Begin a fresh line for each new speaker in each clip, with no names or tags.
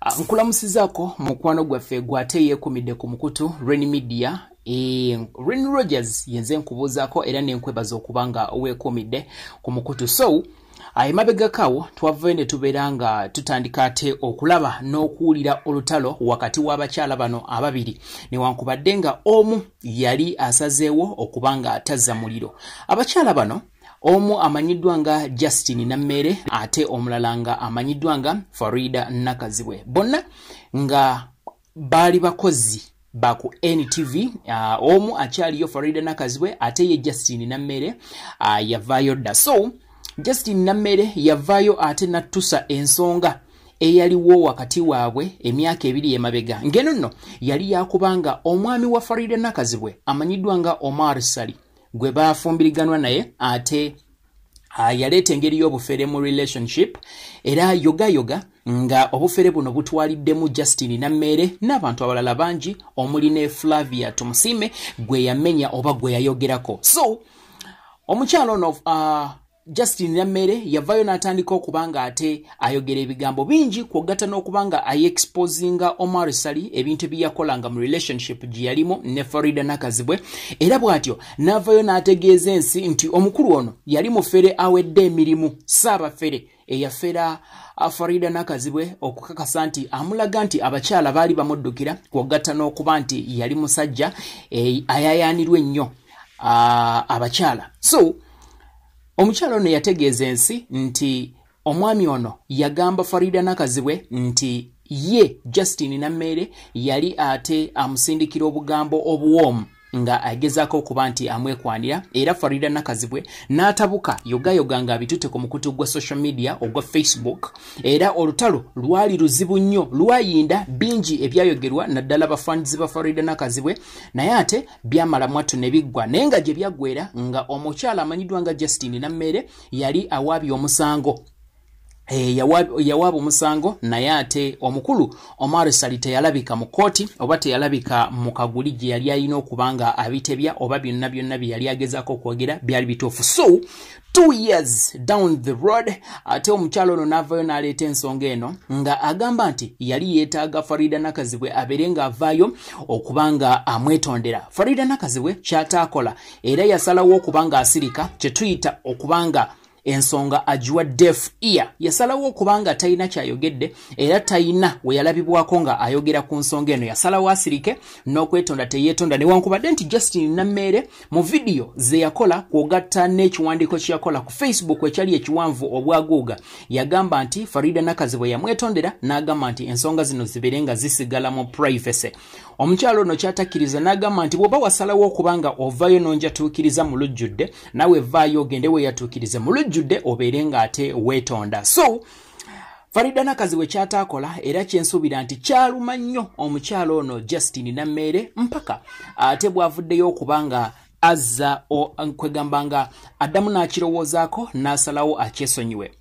Ah, nkulamusizako mukwano gwaffe gwate yekumidde ku mukutu ren media Eh, Ren Rogers yenze nkubuuzako era nenkwebaza okuba nga weekuumidde ku mukutu so emabegakawo twavayo ne tubeera nga tutandika ate okulaba n'okuwulira olutalo wakati w'abakyala bano ababiri newankubadde nga omu yali asazeewo okuba nga tazza muliro abakyala bano omu amanyiddwa nga Justin Nammeere ate omulala nga amanyiddwa nga Farida Nakazibwe bonna nga baali bakozi ba ku NTV uh, omu akyaliyo Farida Nakazibwe ate ye Justin Nammeere uh, yavaayo dda so Justin Nammeere yavaayo ate nattusa ensonga eyaliwo wakati waabwe emyaka ebiri emabega ngeno nno yali yakubanga omwami wa Farida Nakazibwe amanyiddwa nga Omar Sali gwe baafumbiriganwa naye ate Ah, yaleeta engeri y'obufere mu relationship era yogayoga nga obufere buno butwaliddemu justin nammeere n'abantu abalala bangi omuli ne flavia tumusiime gwe yamenya oba gwe yayogerako so omukyalo ono uh, Justin Nammere yavayo n'atandika okuba nga ate ayogera ebigambo bingi kwogatta n'okuba nga ayexposinga Omar Sali ebintu ebiyakolanga mu relationship gye yalimu ne Farida Nakazibwe era bw'atyo n'avayo n'ategeeza ensi nti omukulu ono yali mufere awedde emirimu saabafere eyafera Farida Nakazibwe okukakasa nti amulaga nti abakyala baali bamuddukira kwogatta n'okuba nti yali musajja eh, ayayaanirwa ennyo ah, abakyala so omukyalo ono yategeeza ensi nti omwami ono yagamba farida nakazibwe nti ye justin nammeere yali ate amusindikira obugambo obuwoomu nga agezaako okuba nti amwekwanira era farida nakazibwe n'atabuka yogayoga nga abitute ku mukutu gwa social media ogwa facebook era olutalo lwali luzibu nnyo lwayinda bingi ebyayogerwa naddala bafanzi ba farida nakazibwe naye ate byamala mwattu ne biggwa naye nga gye byaggwera nga omukyala amanyiddwa nga justine nammeere yali awaabye omusango Eh, yawaaba omusango naye ate omukulu omar sali teyalabika mu kkooti oba teyalabika mu kaguli gye yali alina okuba nga abitebya oba byonna byonna bye yali agezaako okwogera byali bituufu so two years down the road ate omukyalo ono n'avaayo n'aleeta ensonga eno nga agamba nti yali yeetaaga farida nakazibwe abeere ng'avaayo okuba nga amwetondera farida nakazibwe kyataakola era yasalawo okuba nga asirika kye tuyita okuba nga ensonga agiwa def ear yasalawo okuba nga talina kyayogedde era talina we yalabibwako nga ayogera ku nsonga eno yasalawo asirike n'okwetonda teyeetonda newankubadde nti justin nammeere mu vidiyo ze yakola kwogatta n'ekiwandiiko kye yakola ku facebook ekyali ekiwanvu obwaguuga yagamba nti farida nakazi bwe yamwetondera n'agamba nti ensonga zino zibeere nga zisigala mu privacy omukyalo ono kyatakkiriza n'agamba nti bw'oba wasalawo okuba nga ovayo n'onjatuukiriza mu lujjudde nawe vaayo ogende weyatuukirize mu lujjudde obeere ng'ate weetonda so farida nakazi we kyataakola era kyensuubira nti kyaluma nnyo omukyalo ono justin nammeere mpaka ate bwavuddeyo okuba nga azza kwegamba nga addamu n'akirowoozaako n'asalawo akyesonyiwe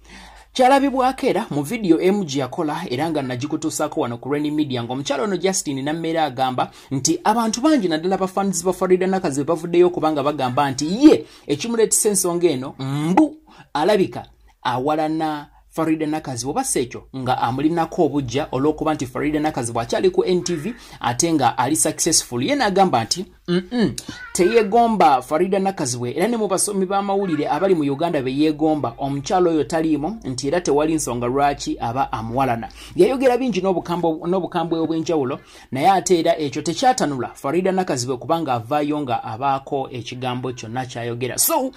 kyalabibwako era mu vidiyo emu gye yakola era nga nagikutuusaako wano ku reni media ng'omukyalo ono justin nammeera agamba nti abantu bangi naddala bafanzi ba farida nakazi be bavuddeyo okubanga bagamba nti ye ekimuleetesa ensonga eno mbu alabika awalana farida nakazi oba si ekyo nga amulinako obujja olw'okuba nti farida nakazi bw'akyali ku ntv ate nga ali successful ye n'agamba nti mm teyegomba farida nakazibwe era ne mu basomi b'amawulire abali mu uganda be yeegomba omukyalo oyo taliimu nti era tewali nsonga lwaki aba amuwalana yayogera bingi n'obukambwe obw'enjawulo naye ate era ekyo tekyatanula farida nakazibwe kubanga avaayo nga abaako ekigambo kyonna kyayogera so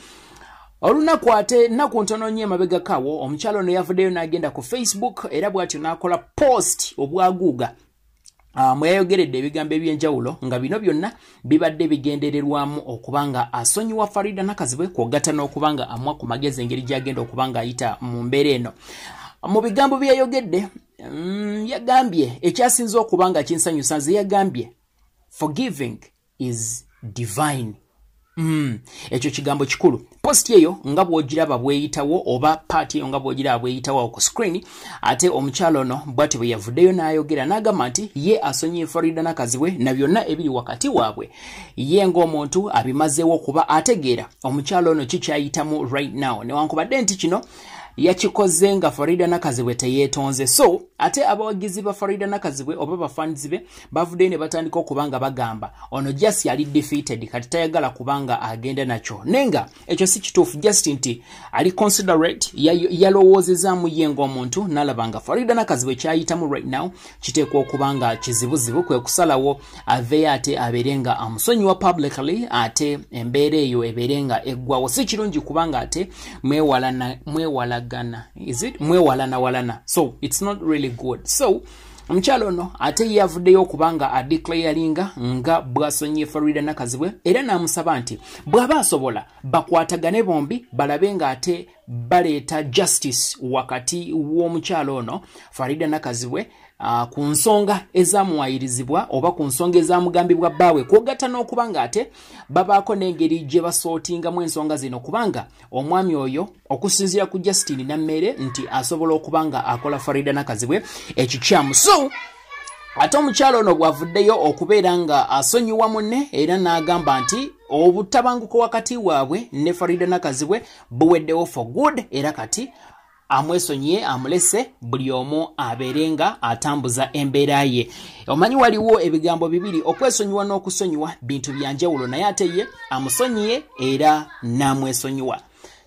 olunaku ate nnaku ntono nnyo emabegakawo omukyalo ono yavuddeyo n'agenda ku facebook era bw'atyo n'akola post obwaguuga Ah, mwe yayogeredde ebigambo eby'enjawulo nga bino byonna bibadde bigendererwamu okuba nga asonyiwa farida nakazibwe kwogatta n'okuba nga amwa ku magezi engeri gy'agenda okuba ng'ayita mu mbeera eno mu bigambo bye yayogedde mm, yagambye ekyasinza okuba nga kinsanyusa nze yagambye forgiving is divine mm. ekyo kigambo kikulu post eyo nga bwogiraba bweyitawo oba paati eyo nga bwogiraba bweyitawo ku screen ate omukyalo ono bwati bwe yavuddeyo n'ayogera n'agamba nti ye asonyiye florida nakazibwe na byonna ebiri wakati waabwe ye ng'omuntu abimazeewo kuba ategeera omukyalo ono kikyayitamu right now newankubadde nti kino yakikoze nga florida nakazibwe teyeetonze so ate abawagizi ba florida nakazibwe oba bafanzi be bavuddeyo ne batandika okuba nga bagamba ono just yali defeated kati tayagala kuba nga agenda nakyo naye nga ekyo si kituufu just nti ali considerate yalowoozezaamu ye ng'omuntu n'alaba nga farida nakazibu ekyayitamu right now kiteekwa okuba nga kizibuzibu kwe kusalawo aveeyo ate abeere nga amusonyiwa publicly ate embeera eyo ebeere nga eggwawo si kirungi kuba nga ate mwewalagana is it mwewalanawalana so it's not really good so omukyalo ono ate ye avuddeyo okuba nga adeclaringa nga bwasonyiye farida nakazibwe era n'amusaba nti bw'aba asobola bakwatagane bombi balabe ng'ate baleeta justice wakati w'omukyalo ono farida nakazibwe uh, ku nsonga ezamuwayirizibwa oba ku nsonga ezamugambibwa bbaawe kwogatta n'okuba ng'ate babaako n'engeri gye basootingamu ensonga zino kubanga omwami oyo okusinzira ku justin nammeere nti asobola okuba nga akola farida nakazibwe ekikyamu so ate omukyalo ono bwavuddeyo okubeera nga asonyiwa munne era n'agamba nti obutabanguko wakati waabwe ne farida nakazibwe buweddewo for good era kati amwesonyiye amulese buli omu abeere nga atambuza embeera ye omanyi waliwo ebigambo bibiri okwesonyiwa n'okusonyiwa bintu byanjawulo naye ate ye amusonyiye era n'amwesonyiwa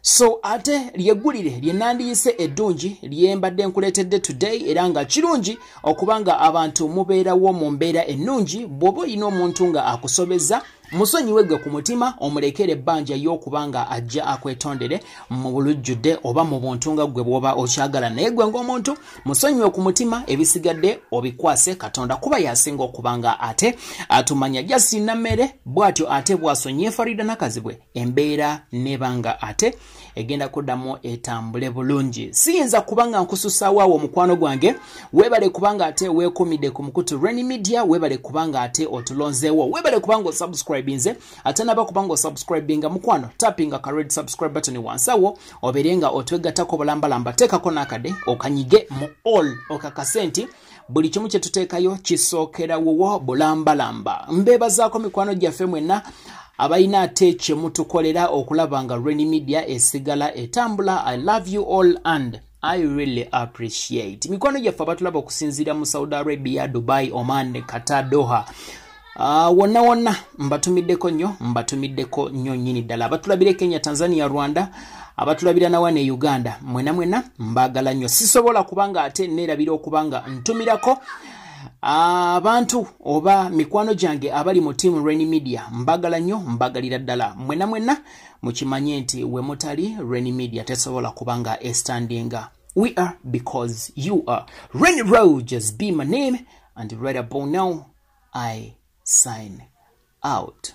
so ate lyeggulire lye nandiyise eddungi lye mbadde nkuleetedde today era nga kirungi okuba nga abantu mubeerawo mu mbeera ennungi bw'oba olina omuntu nga akusobeza musonyiwe gwe ku mutima omulekere ebbanja y'okuba nga ajja akwetondere mu bulujjudde oba mu buntu nga gwe bw'oba okyagala naye gwe ng'omuntu musonyiwe ku mutima ebisigadde obikwase katonda kuba yasinga okuba nga ate atumanya jasina mmere bw'atyo ate bwasonyiye farida nakazibwe embeera neeba nga ate egenda kuddamu etambule bulungi siyinza kuba nga nkususaawo awo omukwano gwange weebale kubanga ate weekumidde ku mukutu reni media weebale kubanga ate otulonzeewo weebale kubanga osubscribinze ate naba kubanga osubscribinga mukwano tappinga ka red subscribe button wansi awo obeere nga otwegattako bulambalamba teekako n'akade okanyige mu all okakase nti buli kimu kye tuteekayo kisookera wuwo bulambalamba mbeebazaako mikwano gyaffe mwenna abalina ate kye mutukolera okulaba nga reni media esigala etambula i love you all and I really appreciate mikwano gyaffe abatulaba okusinziira mu saudi arabia dubai oman qatar doha Ah, wonna uh, wonna mbatumiddeko nnyo mbatumiddeko nnyo nnyini ddala abatulabira e kenya tanzania rwanda abatulabira nawa ne uganda mwena mwena mbagala nnyo sisobola kubanga ate neerabira okubanga ntumirako abantu uh, oba mikwano gyange abali mu tiamu rainy media mbagala nnyo mbagalira ddala mwena mwena mukimanye nti we mutali rainy media tesobola kubanga estandinga we are because you are rainy roges be my name and right abou now I sign out.